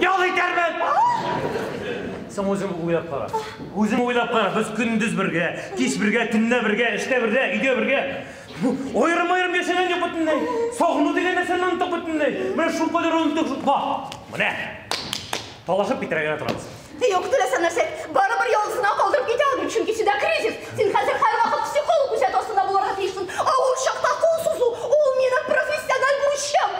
Ял итәрмен! Соң үзең уйлап кара. Үзең уйлап кара, без көндез бергә, кич бергә, төнлә бергә, эштә бергә, өйдә бергә. Ойрым ойрым яшәгән юк бөтенләй. Сагыну дигән нәрсәне оныттык бөтенләй. Менә шул кадәр оныттык шул. Ба! Менә. Талашып китәргә генә торабыз. Юк, теләсә нәрсә. Барыбер ялгызына калдырып китә алмыйм, чөнки синдә кризис. Син хәзер һәрвакыт психолог күзәтү астында булырга тиешсең. Авыр чакта кул сузу, ул минем профессиональ бурычым.